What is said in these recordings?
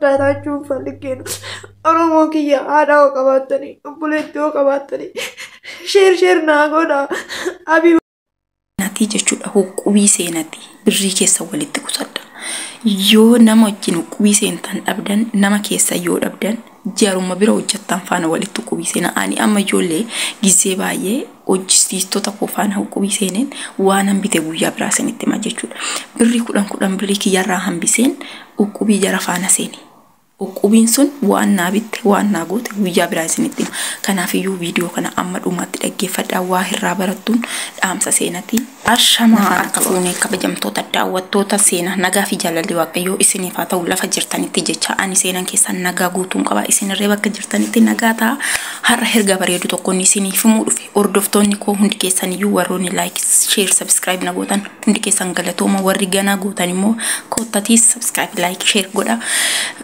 Daataachuun falliggeen Oromoo kiyya haadha hoo qabaattanii obboleetti hoo qabaattanii sheer sheer naa godha abii seenatii jechuudha huqubii seenatii birrii keessa walitti qusadha yoo nama wajjin huqubii seentan dhabdan nama keessa yoo dhabdan jaruma bira hojjattan faana walitti huqubii seena ani amma ijoollee gizee baay'ee hojjisiistota koo faana huqubii seeneen waanan bite guyyaa biraa isinitti hima jechuudha. Birrii kudhan kudhan birrii kiyyarraa hambiseen huqubii jara faana seene. Huqubiin sun waan naa bitte waan naa goote guyyaa biraa isinitti hima. Kanaafiyyuu viidiyoo kana amma dhumaatti dhaggeeffadhaa waa irraa barattuun dhaamsa seenati. Ashamaa harka fuunee kabajamtoota daawwattoota seenaa nagaa fi jaalalli waaqayyoo isiniif haa ta'u lafa jirtanitti jecha ani seenan keessan nagaa guutuun qaba isinirree bakka jirtanitti nagaa ta'a har'a ergaa bareedu tokkoon isiniif himuu dhufe hordoftoonni koo hundi keessan iyyuu warroonni laayik sheer sabskiraayib na gootan hundi keessan galatooma warri ganaa gootan immoo koottatii sabskiraayib laayik sheer godha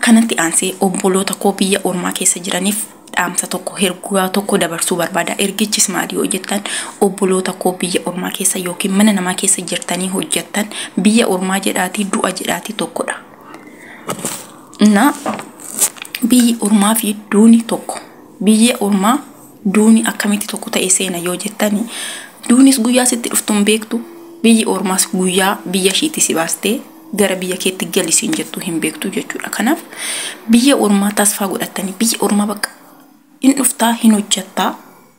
kanatti aansee obboloota koo biyya ormaa keessa jiraniif dhaamsa tokko ergaa tokko dabarsuu barbaada. Ergichis maali yoo jettan obboloota koo biyya ormaa keessa yookiin mana namaa keessa jirtanii hojjettan biyya ormaa jedhaatii du'a jedhaatii tokkodha. Na biyyi ormaa fi duuni tokko biyya ormaa duuni akkamitti tokko ta'e seena yoo jettani duunis guyyaa sitti dhuftu hin beektu biyyi ormaas guyyaa biyya ishiitii si baastee gara biyya keetti gali siin jettuu hin beektu jechuudha. Kanaaf biyya ormaa tasfaa godhattanii biyya ormaa bakka in dhuftaa hin hojjattaa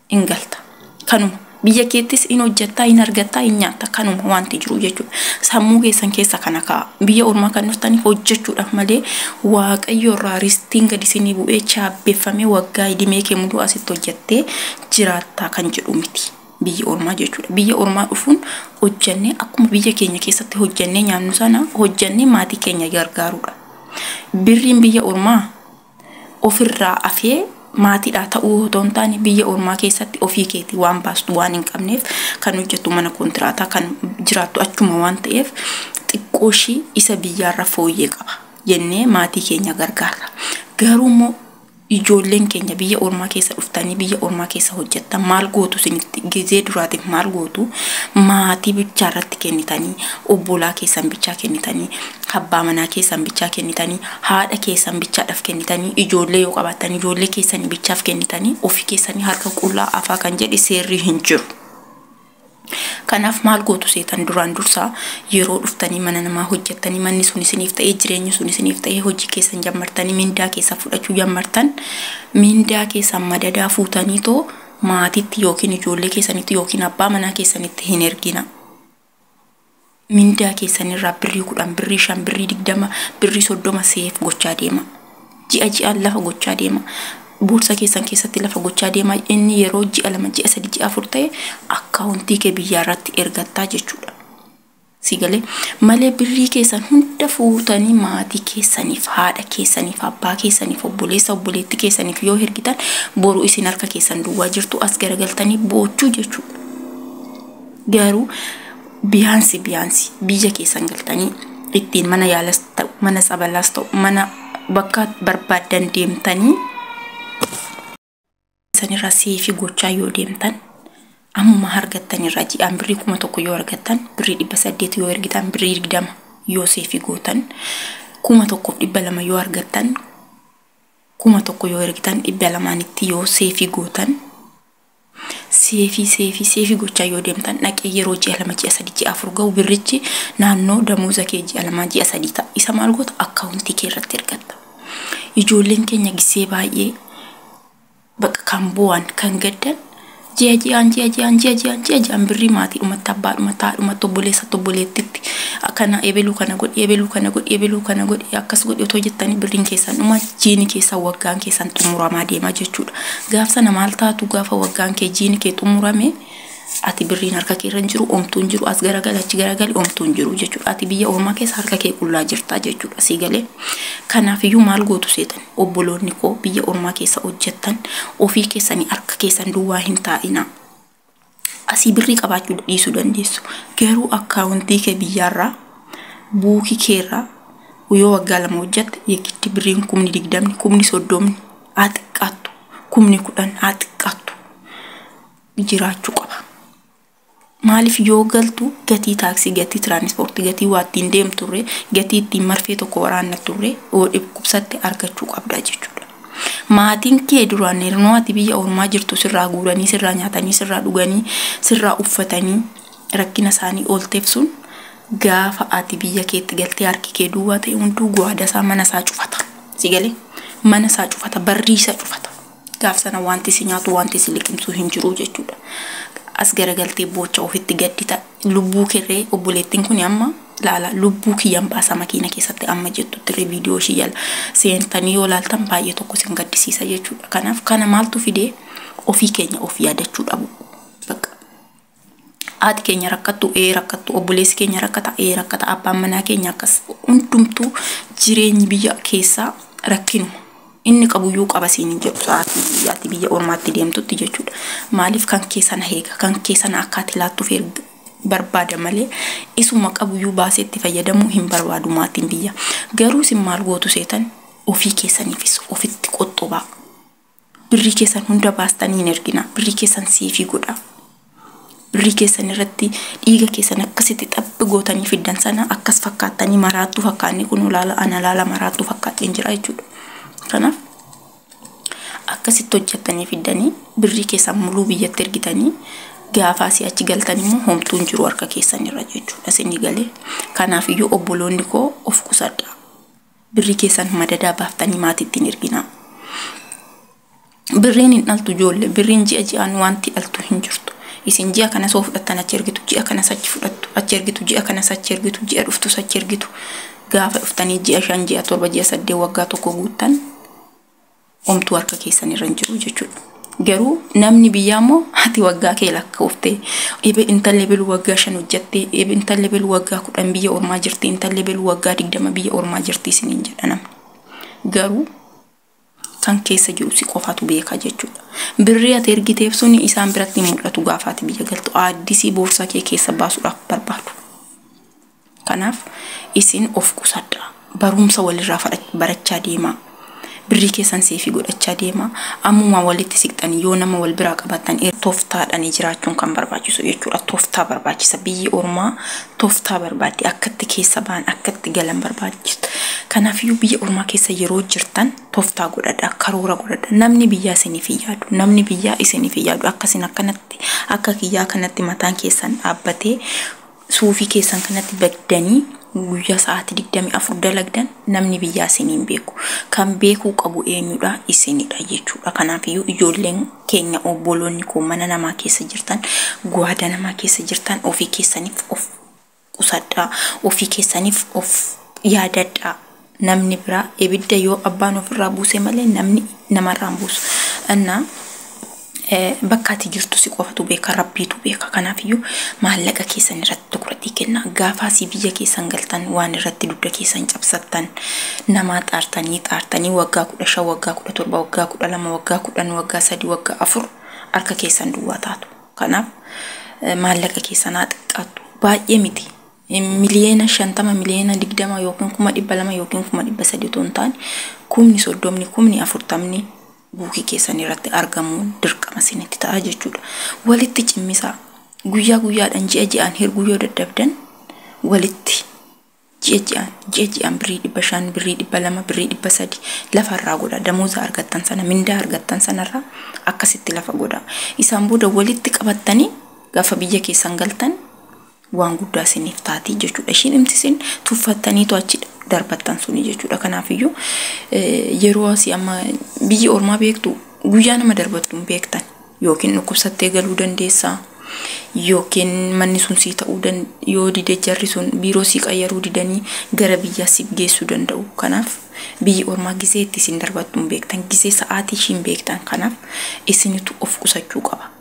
in galta. Kanuma biyya keettis in hojjattaa in argattaa in nyaatta kanuma wanti jiru jechuudha. Sammuu keessan keessa kana ka'a. Biyya ormaa kan dhuftanii hojjechuudhaaf malee waaqayyo irraa ristiin gadi isinii bu'ee chaabbeffamee waggaa idimee kee muduu asitti hojjettee jiraattaa kan jedhu miti. biyya ormaa jechuudha. Biyya ormaa dhufuun hojjannee akkuma biyya keenya keessatti hojjannee nyaannu sana hojjannee maatii keenya gargaaruudha. Birriin biyya ormaa ofirraa afee maatiidhaa ta'uu otoo hin taane biyya ormaa keessatti ofii keetii waan baastu waan hin qabneef kan hojjettu mana kontiraataa kan jiraattu achuma waan ta'eef xiqqoo ishii isa biyyaarra fooyyee qaba jennee maatii keenya gargaarra. Garuu immoo Ijoolleen keenya biyya ormaa keessa dhuftanii biyya ormaa keessa hojjattan maal gootu isinitti gizee duraatiif maal gootu maatii bichaa irratti kennitanii obbolaa keessan bichaa kennitanii abbaa manaa keessan bichaa kennitanii haadha keessan bichaadhaaf kennitanii ijoollee yoo qabaattan ijoollee keessanii bichaaf kennitanii ofii keessanii harka qullaa afaa kan jedhe seerrii hin jiru. Kanaaf maal gootu seetan duraan dursaa yeroo dhuftanii mana namaa hojjattanii manni sun isiniif ta'ee jireenyi sun isiniif ta'ee hojii keessan jammartanii mindaa keessan fudhachuu jammartan mindaa keessan madadaa fuutanii too maatitti yookiin ijoollee keessanitti yookiin abbaa manaa keessanitti hin ergina. mindaa keessan irraa birrii kudhan birrii shan birrii digdama birrii soddoma seef gochaa deema ji'a ji'aan lafa gochaa deema boorsa keessan keessatti lafa gochaa deema inni yeroo ji'a lama ji'a sadi ji'a afur ta'e akkaawuntii kee biyyaa irratti ergattaa jechuudha. Si galee malee birrii keessan hunda fuutanii maatii keessaniif haadha keessaniif abbaa keessaniif obboleessa obboleetti keessaniif yoo ergitan boru isin harka keessan duwwaa jirtu as garagaltanii boochuu jechuudha. Garuu biyaansi biyaansi biyya keessan galtanii ittiin mana yaalas ta'u mana tsabalaas ta'u mana bakka barbaadan deemtanii sanirra seefii gochaa yoo deemtan ammuma argattan irraa ji'aan birrii kuma tokko yoo argattan birrii dhibba saddeet yoo ergitan birrii digdama yoo seefii gootan kuma tokkoof dhibba lama yoo argattan kuma tokko yoo ergitan dhibba lamaanitti yoo seefii gootan Seefii seefii seefii gochaa yoo deemtan dhaqee yeroo ji'a lama ji'a sadii ji'a afur ga'u birrichi naannoo damooza kee ji'a lamaa ji'a sadii ta'a isa maal goota akkaawuntii kee irratti ergatta. Ijoolleen keenya gisee baay'ee bakka kan bu'an kan gaddan ji'a ji'aan ji'a ji'aan ji'a ji'aan ji'a ji'aan birrii maatiidhumatti abbaadhumatti haadhumatti obboleessatti obboleettitti akkana ebeluu kana godhi ebeluu kana godhi ebeluu kana godhi akkas godhi otoo jettanii birriin keessan dhumati. jiini keessan waggaan keessan xumuramaa deema jechuudha. Gaaf sana maal taatu gaafa waggaan kee jiini kee xumurame ati birriin harka kee irra hin jiru omtuu hin jiru as garagali achi garagali omtuu hin jiru jechuudha. Ati biyya ormaa keessa harka kee qullaa jirta jechuudha sii galee. Kanaaf iyyuu maal gootu seetan obboloonni koo biyya ormaa keessa hojjettan ofii keessanii harka keessan duwwaa hin taa'inaa. asii birrii qabaachuu dhiisuu dandeessu garuu akkaawuntii kee biyyaarraa buukii keerraa yoo waggaa lama hojjatte yegitti birriin kumni digdamni kumni soddomni haa xiqqaattu kumni kudhan haa xiqqaattu jiraachuu qaba. Maaliif yoo galtu gatii taaksii, gatii tiraanispoortii, gatii waa ittiin deemturre, gatii ittiin marfee tokko waraanna turre yoo dhukkubsatte argachuu qabda jechuudha. Maatiin kee duraan hernoo ati biyya ormaa jirtu sirraa guuranii, sirraa nyaatanii, sirraa dhuganii, sirraa uffatanii rakkina isaanii oolteef sun gaafa ati biyya keetti galtee harki kee duwwaa ta'e hunduu guwaada isaa mana isaa cufata. Si galee mana isaa cufata, barrii isaa cufata. Gaaf sana wanti si nyaatu, wanti si liqimsu hin jiru jechuudha. As garagaltee boocha ofitti gaddita. Lubbuu kerree obboleettin kuni amma laala lubbuu kiyyan baasa makiina keessatti amma jettuttirre video ishii jala seentanii yoo laaltan baay'ee tokko isin gaddisiisa jechuudha kanaaf kana maaltu fide ofii keenya of yaadachuu dhabu bakka haati keenya rakkattu ee rakkattu obboleessi keenya rakkata ee rakkata abbaan manaa keenya akkas hundumtuu jireenyi biyya keessaa rakkinuma Inni qabuyyuu qaba siin hin jedhu sa'aatii ati biyya ormaatti deemtutti jechuudha. Maaliif kan kee sana eega kan kee sana akka ati laattuuf erga barbaada malee isuma qabuyyuu baasee itti fayyadamuu hin barbaadu maatiin biyya. Garuu isin maal gootu seetan ofii keessaniifis ofitti qoxxobaa. Birrii keessan hunda baastanii hin erginaa. Birrii keessan seefii godhaa. Birrii keessan irratti dhiiga keessan akkasitti xaphi gootanii fiddan sana akkas fakkaattanii maraattuu fakkaannee kunoo laala ana laala maraattuu fakkaadheen jira jechuudha. Kanaaf akkasitti hojjettanii fiddanii birrii keessan muluu biyyatti ergitanii gaafaa si achi galtan immoo homtuu hin jiru harka keessan irra jechuudha isinii galee. Kanaaf iyyuu obboloonni koo of qusadhaa. Birrii keessan madadaa baaftanii maatiitti hin erginaa. Birriin hin dhaltu joolle. Birriin ji'a ji'aan wanti dhaltu hin jirtu. Isin ji'a kana soo fudhattan achi ergitu, ji'a kana sachi fudhattu, achi ergitu, ji'a kana sachi ergitu, ji'a dhuftu sachi ergitu. Gaafa dhuftanii ji'a shan, ji'a torba, ji'a saddeet waggaa tokko guuttan Homtuu harka keessan irra hin jiru jechuudha. Garuu namni biyyaa immoo ati waggaa kee lakkoofte ebe intalli belu waggaa shan hojjatte ebe intalli belu waggaa kudhan biyya ormaa jirti intalli belu waggaa digdama biyya ormaa jirti isiniin jedha namni. Garuu kan keessa jiru si qofatu beeka jechuudha. Birrii ati ergiteef sun isaan biratti hin mul'atu gaafa ati biyya galtu aaddisii boorsaa kee keessa baasuudhaaf barbaadu. Kanaaf isin of qusadhaa. Baruumsa walirraa barachaa deemaa. Birrii keessan seefii godhachaa deemaa. Ammumaa walitti siqxanii yoo nama wal biraa qabaattan toftaadhani jiraachuun kan barbaachisu jechuudha. Toftaa barbaachisa. Biyyi ormaa toftaa barbaaddi. Akkatti keessa ba'an, akkatti galan barbaachisa. Kanaafiyyuu biyya ormaa keessa yeroo jirtan toftaa godhadhaa, karoora godhadhaa. Namni biyyaa isiniif hin yaadu. Namni biyyaa isiniif hin yaadu. Akka isin akkanatti, akka kiyyaa kanatti mataan keessan dhaabbatee Suufii keessan kanatti baddanii guyyaa sa'aatii 24 dalagdan namni biyyaa isin hin beeku. Kan beekuu qabu eenyudha? Isinidha jechuudha. Kanaafiyyuu ijoolleen keenya obboloonni koo mana namaa keessa jirtan, gwaada namaa keessa jirtan ofii keessaniif of qusadhaa, ofii keessaniif of yaadadhaa. namni biraa ibidda yoo abbaan ofirraa buuse malee namni namarraa hin buusu. Annaa bakka ati jirtu si qofatu beeka rabbiitu beeka kanaafiyyuu maallaqa keessan irratti tukratii kenna gaafaa si biyya keessan galtan waan irratti dugda keessan cabsattan namaa xaartanii xaartanii waggaa kudha shan waggaa kudha torba waggaa kudha lama waggaa kudhan waggaa sadii waggaa afur harka keessan duwwaa taatu kanaaf maallaqa keessan haa xiqqaattu baay'ee miti miliyoona 50, miliyoona 20 ykn kuma 200 ykn kuma 300 utuu hin taane kumni 30, kumni 40 buukii keessan irratti argamuun dirqama isinitti ta'a jechuudha. Walitti cimmisaa. Guyyaa guyyaadhaan ji'a ji'aan hirguu yoo dadhabdan walitti ji'a ji'aan ji'a ji'aan birrii dhibba shan birrii dhibba lama birrii dhibba sadi lafa irraa godha damooza argattan sana mindaa argattan sanarraa akkasitti lafa godha isaan booda walitti qabattanii gaafa biyya keessan galtan waan guddaa isiniif taati jechuudha. Ishiin imti isin tuffattaniitu achi darbattan suni jechuudha. Kanaafiyyuu yeroo asii amma biyyi ormaa beektu guyyaa nama darbattu hin beektan yookiin dhukkubsattee galuu dandeessaa yookiin manni sun sii ta'uu yoo dide jarri sun biiroo sii qayyaruu didanii gara biyyaa siif geessuu danda'u. Kanaaf biyyi ormaa gisee itti isin darbattu hin beektan gisee sa'aatii ishiin beektan kanaaf isinitu of qusachuu qaba.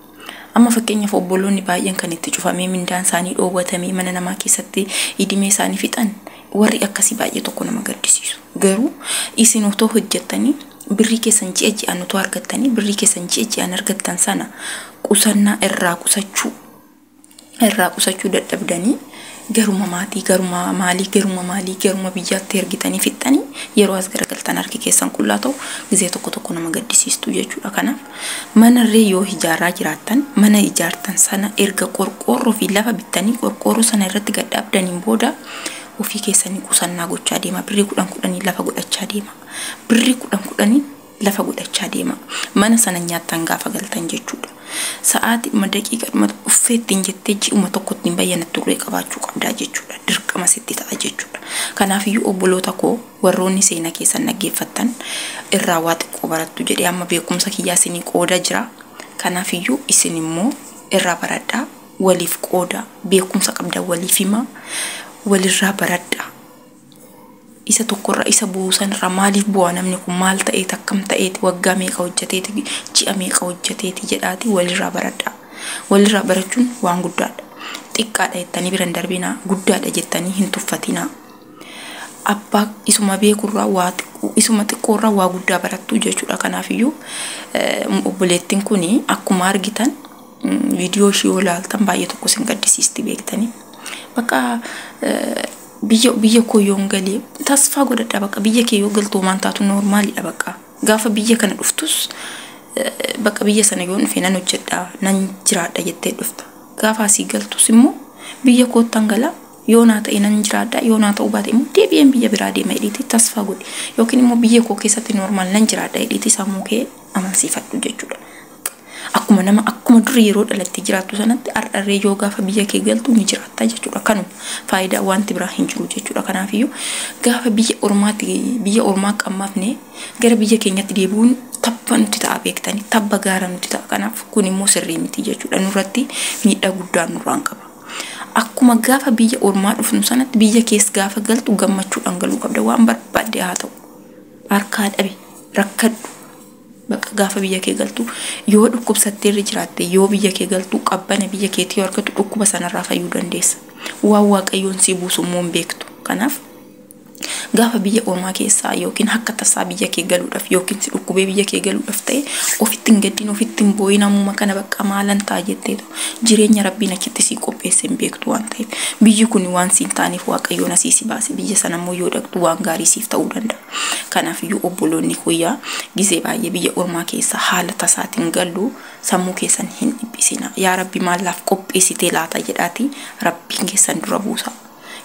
Amma fakkeenyaaf obboloonni baay'een kan itti cufamee mindaan isaanii dhoowwatamee mana namaa keessatti idimee isaanii fixan warri akkasii baay'ee tokko nama gaddisiisu. Garuu isin otoo hojjettanii birrii keessan ji'a ji'aan otoo argattanii birrii keessan ji'a ji'aan argattan sana qusannaa irraa qusachuu irraa qusachuu dadhabdanii garuma maatii garuma maalii garuma maalii garuma biyyaatti ergitanii fixxanii yeroo as garagaltan harki keessan qullaa ta'u gizee tokko tokko nama gaddisiistu jechuudha kanaaf manarree yoo ijaaraa jiraattan mana ijaartan sana erga qorqoorroo fi lafa bittanii qorqoorroo sana irratti gad dhaabdaniin booda ofii keessanii qusannaa gochaa deema birrii kudhan kudhanii lafa godhachaa deema birrii kudhan kudhanii lafa godhachaa deemaa. Mana sana nyaattan gaafa galtan jechuudha. Sa'aatiidhuma daqiiqaadhuma uffee ittiin jettee ji'uma tokko ittiin bayyanatturree qabaachuu qabdaa jechuudha. Dirqama sitti ta'a jechuudha. Kanaafiyyuu obboloota koo warroonni seenaa keessan dhaggeeffattan irraa waa xiqqoo barattu jedhee amma beekumsa kiyyaa isinii qooda jira. Kanaafiyyuu isin immoo irraa baradhaa waliif qoodaa beekumsa qabdan waliif himaa walirraa baradhaa isa tokko irra isa bu'u san irra maaliif bu'a namni kun maal ta'eeti akkam ta'eeti waggaa meeqa hojjeteeti ji'a meeqa hojjeteeti jedhaati walirraa baradhaa walirraa barachuun waan guddaadha xiqqaadha jettanii bira hin darbinaa guddaadha jettanii hin tuffatinaa abbaa isuma beekurraa waa xiqqoo isuma xiqqoorraa waa guddaa barattu jechuudha kanaafiyyuu eh, obboleettiin kun akkuma argitan mm, viidiyoo ishii yoo ilaaltan baay'ee tokko isin gaddisiisti beektanii bakka eh, biyya biyya koo yoon galee tasfaa godhadha baqa biyya kee yoo galtu homaan taatu noormaalidha baqa gaafa biyya kana dhuftus baqa biyya sana yoon dhufe nan hojjedha nan jiraadha jettee dhufta gaafa asii galtus immoo biyya koottan gala yoo naa ta'e nan jiraadha yoo naa ta'uu baate immoo deebi'een biyya biraa deema jedhiiti tasfaa godhi yookiin immoo biyya koo keessatti noormaal nan jiraadha jedhiiti sammuu kee amansiifadhu jechuudha. Akkuma nama akkuma dur yeroo dhalattee jiraattu sanatti har'a illee yoo gaafa biyya kee galtu ni jiraatta jechuudha. Kanuma faayidaa wanti biraa hin jiru jechuudha. Kanaafiyyuu gaafa biyya ormaatti biyya ormaa qammafne gara biyya keenyatti deebi'uun tabba nuti ta'a beektani tabba gaara nuti ta'a. Kanaaf kun immoo sirrii miti jechuudha. Nurratti miidhaa guddaa nurraan qaba. Akkuma gaafa biyya ormaa dhufnu sanatti biyya kees gaafa galtu gammachuudhaan galuu qabda. Waan barbaadde haa ta'u. Harkaa dhabi rakkadhu Bakka gaafa biyya kee galtu yoo dhukkubsattee irra jiraatte yoo biyya kee galtu qabbana biyya keetii yoo argatu dhukkuba sanarraa fayyuu dandeessa. Waan waaqayyoon sii buusu immoo hin beektu. Kanaaf gaafa biyya ormaa keessaa yookiin akka tasaa biyya kee galuudhaaf yookiin si dhukkubee biyya kee galuudhaaf ta'e ofitti hin gaddin ofitti hin boo'in ammuma kana bakka maalan ta'a jetteetu jireenya rabbiin achitti sii qopheesse hin beektu waan ta'eef biyyi kun waan siin taaneef waaqayyoon asii si baase biyya sana immoo yoo dhaqxu waan gaarii siif ta'uu danda'a. Kanaafiyyuu obboloonni koo yaa gizee baay'ee biyya ormaa keessa haala tasaatiin gallu sammuu keessan hin dhiphisinaa. Yaa Rabbi maal naaf qopheessitee laata jedhaatii Rabbiin keessan dura buusaa.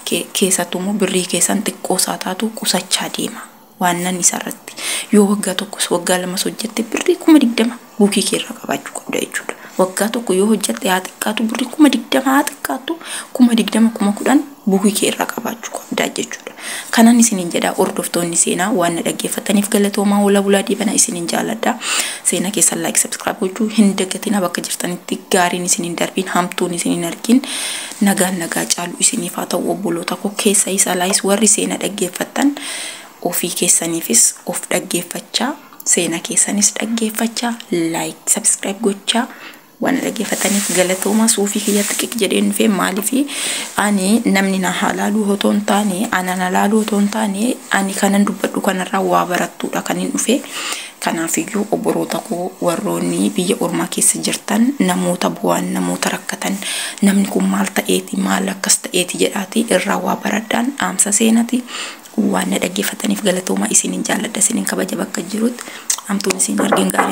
Ke- Keessattuu immoo birrii keessan xiqqoo isaa taatu qusachaa deema. Waannan isarratti yoo waggaa tokkos waggaa lamas hojjette birrii kuma digdama buukii kee irraa qabaachuu qabda jechuudha. Waggaa tokko yoo hojjatte haa xiqqaatu birrii kuma digdama haa xiqqaattu kuma digdama kuma kudhan buukii kee irraa qabaachuu qabda jechuudha. Kanan isiniin jedha hordoftoonni seenaa waan na dhaggeeffattaniif galatoomaa hoolaa bulaa dhiibana isiniin jaaladha. Seenaa keessan like subscribe gochuu hin dagatinaa bakka jirtanitti gaariin isiniin darbiin hamtuun isiniin argiin nagaan nagaa caalu isiniif haa ta'u obboloota koo keessa isa laayis warri seenaa dhaggeeffattan ofii keessaniifis of dhaggeeffachaa Seena keessanis dhaggeeffachaa like subscribe gochaa waan dhaggeeffataniif galatooma suufii kiyya xiqiq jedheen dhufee maaliif ani namni na haalaaluu otoo hin taane ana na laaluu otoo hin taane ani kanan dubbadhu kanarraa waa barattuudha kan hin dhufe kanaafiyyuu obboloota koo warroonni biyya ormaa keessa jirtan namoota bu'aan namoota rakkatan namni kun maal ta'eeti maal akkas ta'eeti jedhaati irraa waa baradhaan dhaamsa seenati Waan na dhaggeeffattaniif galatoomaa. Isinin jaalladha, isinin kabaja bakka jirut. Hamtuun isin hin argin gaarii.